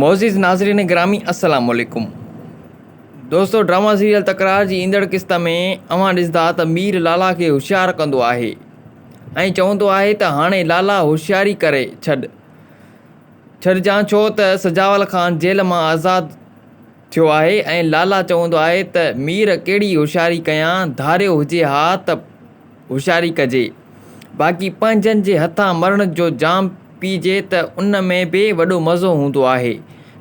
معزز ناظرين گرامي السلام عليڪم دوستو ڊراما سيريل تڪرار جي ايندڙ قسط ۾ اوهان ڏسندا ته مير لالا کي هوشيار ڪندو آهي ۽ چوندو آهي ته هاڻي لالا هوشياري ڪري ڇڏ ڇڏجان ڇو ته سجاول خان جيل مان آزاد ٿيو آهي ۽ لالا چوندو آهي ته مير ڪهڙي هوشياري ڪيان ڌاريو هجي ها ته هوشياري ڪجي، باقي پنهنجن جي هٿان مرڻ جو جام پيئجي ته ان ۾ به وڏو مزو هوندو آهي.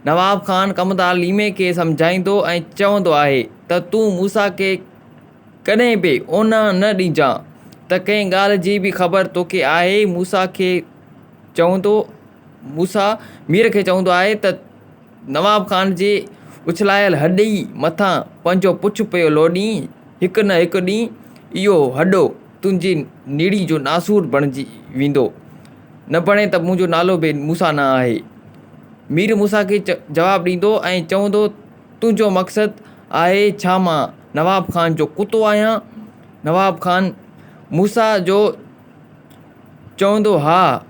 نواب خان ڪمدار ليمي کي سمجهائيندو ۽ چوندو آهي ته تون موسيٰ کي ڪڏهن به اونهان نه ڏيجان ته ڪنهن ڳالهه جي به خبر توکي آهي موسيٰ کي چوندو موسيٰ مير کي چوندو آهي ته نواب خان جي اڇلايل هڏي مٿان پنهنجو پڇ پيو لوڏين، هڪ نه هڪ ڏينهن اهو هڏو تنهنجي نڙي جو ناسور بڻجي ويندو، نه بڻي ته منهنجو نالو به موسيٰ نه آهي. مير موسيٰ کي جواب ڏيندو ۽ چوندو تنهنجو مقصد آهي ڇا مان نواب خان جو ڪتو آهيان؟ نواب خان موسيٰ جو چوندو، ها،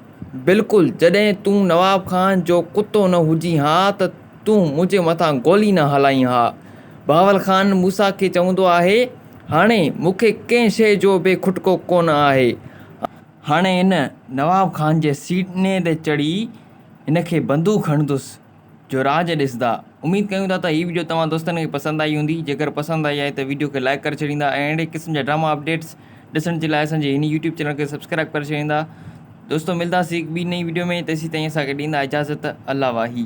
بلڪل، جڏهن تون نواب خان جو ڪتو نه هجين ها ته تون منهنجي مٿان گولي نه هلائين ها. بهاول خان موسيٰ کي چوندو آهي، هاڻي مون کي ڪنهن شيء جو به کٽڪو ڪونه آهي. هاڻي هن نواب خان جي سيني تي چڙهي هن کي بندوق هڻندس. جو راڄ ڏسندا. اميد ڪيون ٿا ته هي وڊيو توهان دوستن کي پسند آئي هوندي. جيڪر پسند آئي آهي ته وڊيو کي لائيڪ ڪري ڇڏيندا ۽ اهڙي قسم جا ڊراما اپڊيٽس ڏسڻ جي لاء اسان جي هن يوٽيوب چينل کي سبسڪرائيب ڪري ڇڏيندا. دوستو ملداسين هڪ ٻي نئين وڊيو ۾ تيسين تائين اسان کي ڏيندا اجازت الله واهي.